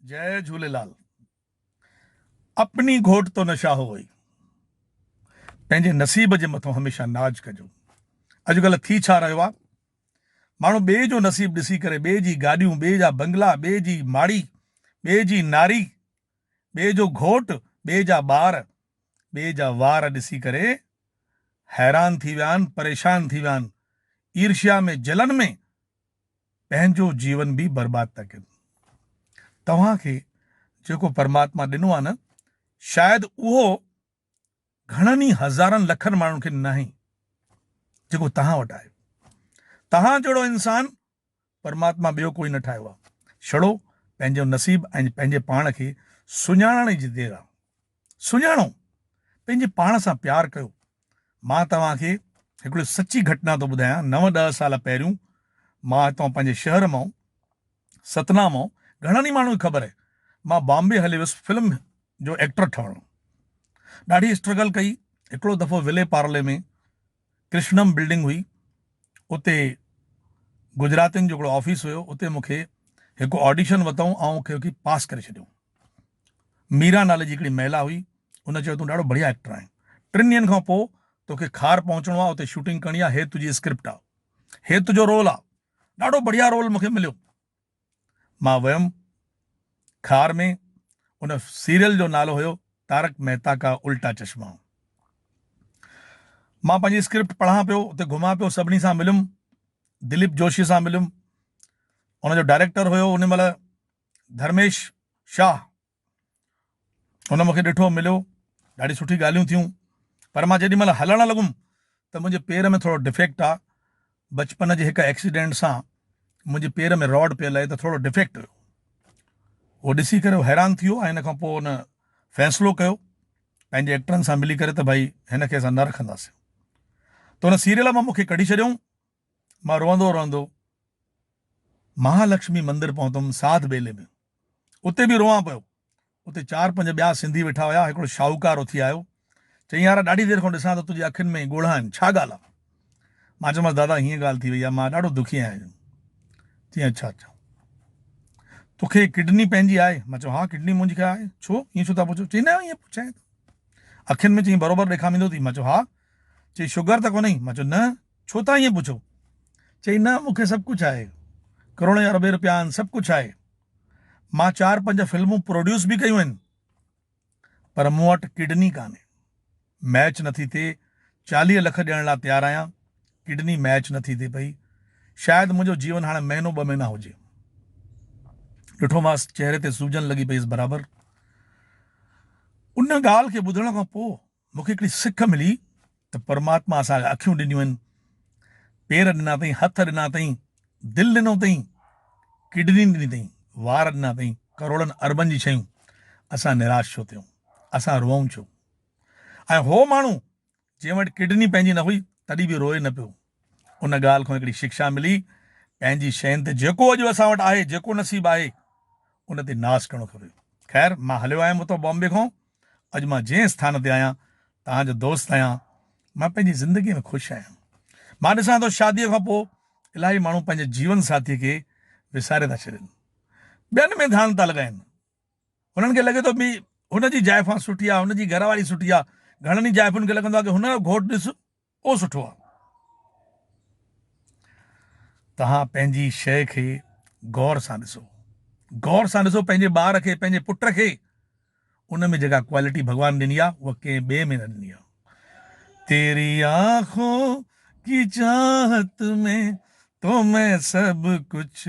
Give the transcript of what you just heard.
جئي جهوليلال اپني گهوٽ تو نشا هو وئي پنهنجي نصيب جي مٿو هميشه ناز ڪجو اڄ ڪلهه ٿي ڇا رهيو آ ماڻهو ٻئي جو نصيب ڏسي ڪري ٻئي جي گاڏيون ٻئي جا بنگلا ٻئي جي ماڙي ٻئي جي ناري ٻئي جو گهوٽ ٻئي جا ٻار ٻئي جا وار ڏسي ڪري حيران ٿي ويا آهن پريشان ٿي ويا آهن ايرشيا ۾ جلن ۾ پنهنجو جيون به برباد ٿا ڪن. توهان کي جيڪو پرماتما ڏنو آهي نه شايد اهو گهڻن ئي هزارن لکن ماڻهن کي ناهي جيڪو توهان وٽ آهي. توهان جهڙو انسان پرماتما ٻيو ڪوئي نه ٺاهيو آهي. ڇڙو پنهنجو نصيب ۽ پنهنجي پاڻ کي سڃاڻڻ جي دير آهي. سڃاڻو، پنهنجي پاڻ سان پيار ڪيو. مان توهان کي هڪڙي سچي گهٽنا ٿو ٻڌايان، نو ڏهه سال پهريون مان هتان پنهنجي شهر مئون ستنا مئون گهڻن ئي ماڻهن کي خبر آهي مان بامبي هلي ويس فلم جو ايڪٽر ٺهڻ لاء ڏاڍي اسٽرگل ڪئي هڪڙو دفعو ولي پارلي ۾ ڪرشنم بلڊنگ هئي، اتي گجراتين جو هڪڙو آفيس هيو، اتي مون کي هڪ آڊيشن وتئون، آئون کي اکي پاس ڪري ڇڏيئون. ميرا نالي جي هڪڙي مهلا هئي، ان چيو تون ڏاڍو بڙيا ايڪٽر آهين، ٽن ڏينهن کان پوء توکي کار پهچڻو آ، اتي شوٽنگ ڪرڻي آ، هي تنهنجي اسڪرپٽ آ، هي تنهنجو رول آ، ڏاڍو بڙيا رول مون کي مليو. مان ويم خار ۾ ان سيريل جو نالو هيو تارڪ مهتا ڪا الٽا چشما مان پنهنجي اسڪرپٽ پڙهان پيو اتي گهمان پيو سڀني سان مليم دليپ جوشي سان مليم ان جو ڊائريڪٽر هيو ان مهل ڌرميش شاهه هن مون کي ڏٺو، مليو، ڏاڍي سٺي ڳالهيون ٿيون، پر مان جيڏي مهل هلڻ لڳم ته منهنجي پير ۾ ٿورو ڊفيڪٽ آ، بچپن جي هڪ ايڪسيڊنٽ سان منهنجي پير ۾ راڊ پيل آهي ته ٿورو ڊفيڪٽ هيو. هو ڏسي ڪري حيران ٿي ويو ۽ ان کان پوء هن فيصلو ڪيو پنهنجي ايڪٽرن سان ملي ڪري ته ڀائي هن کي اسان نه رکنداسين ته هن سيريل مان مون کي ڪڍي ڇڏيائون. مان روئندو روئندو مهالڪشمي مندر پهتم ساڌ ٻيلي ۾ اتي به روئان پيو اتي چار پنج ٻيا سنڌي ويٺا هيا هڪڙو شاهوڪار اٿي آيو چئي يارا ڏاڍي دير کان ڏسان ٿو تنهنجي اکين ۾ ڳوڙها آهن ڇا ڳالهه آهي مان چيومانس دادا هيئن ڳالهه ٿي وئي آهي مان ڏاڍو دکي آهيان چي اڇا اڇا توکي ڪڊني پنهنجي آهي مان چيو ها ڪڊني منهنجي کي آهي ڇو ائين ڇو ٿا پڇو چي نه ائين پڇائين اکين ۾ چي برابر ڏيکام ايندو اٿئي مان چيو ها چي شگر ته ڪونهي مان چيو نه ڇو ٿا ائين پڇو؟ چيائين، نه مون کي سڀ ڪجهه آهي. ڪروڙين اربين روپيا آهن، سڀ ڪجهه آهي. مان چار پنج فلمون پروڊيوس به ڪيون آهن. پر مون وٽ ڪڊني ڪانهي. ميچ نٿي ٿئي. چاليهه لک ڏيڻ لاء تيار آهيان. ڪڊني ميچ نٿي ٿئي پئي. شايد منهنجو جيون هاڻي مهينو ٻه مهينا هجي. ڏٺومانس چهري تي سوجن لڳي پئي هيس برابر. ان ڳالهه کي ٻڌڻ کان پوء مون کي هڪڙي سک ملي ته پرماتما اسان کي اکيون ڏنيون آهن، پير ڏنا اٿئي، هٿ ڏنا اٿئي، دل ڏنو اٿئي، ڪڊني ڏني اٿئي، وار ڏنا اٿئي، ڪروڙن اربن جي شيون، اسان نراش ڇو ٿيون، اسان روئون ڇو؟ ۽ هو ماڻهو جنهن وٽ ڪڊني پنهنجي نه هئي تڏهن به روئي نه پيو. ان ڳالهه کان هڪڙي شڪشا ملي، پنهنجي شين تي جيڪو اڄ اسان وٽ آهي، جيڪو نصيب آهي، ان تي ناز ڪرڻو کپي. خير مان هليو آيم اتان بامبي کان. اڄ مان جنهن اسٿان تي آهيان، توهان جو دوست آهيان، مان پنهنجي زندگيء ۾ خوش آهيان. مان ڏسان ٿو شاديء کان پوء الاهي ماڻهو پنهنجي جيون ساٿيء کي وساري ٿا ڇڏين. ٻين ۾ ڌيان ٿا لڳائين. هنن کي لڳي ٿو ڀي هن جي زائفان سٺي آهي، هن جي گهر واري سٺي آهي. گهڻن ئي زائفن کي لڳندو آهي ڪي هن جو گهوٽ ڏس! اهو سٺو آ. توهان پنهنجي شيء کي غور سان ڏسو. غور سان ڏسو پنهنجي ٻار کي، پنهنجي پٽ کي. ان ۾ جيڪا ڪوالٽي ڀڳوان ڏني آ، اها ڪنهن ٻئي ۾ نه ڏني آ. تيري آنکون ڪي چاهت مين تو مين سڀ ڪجھ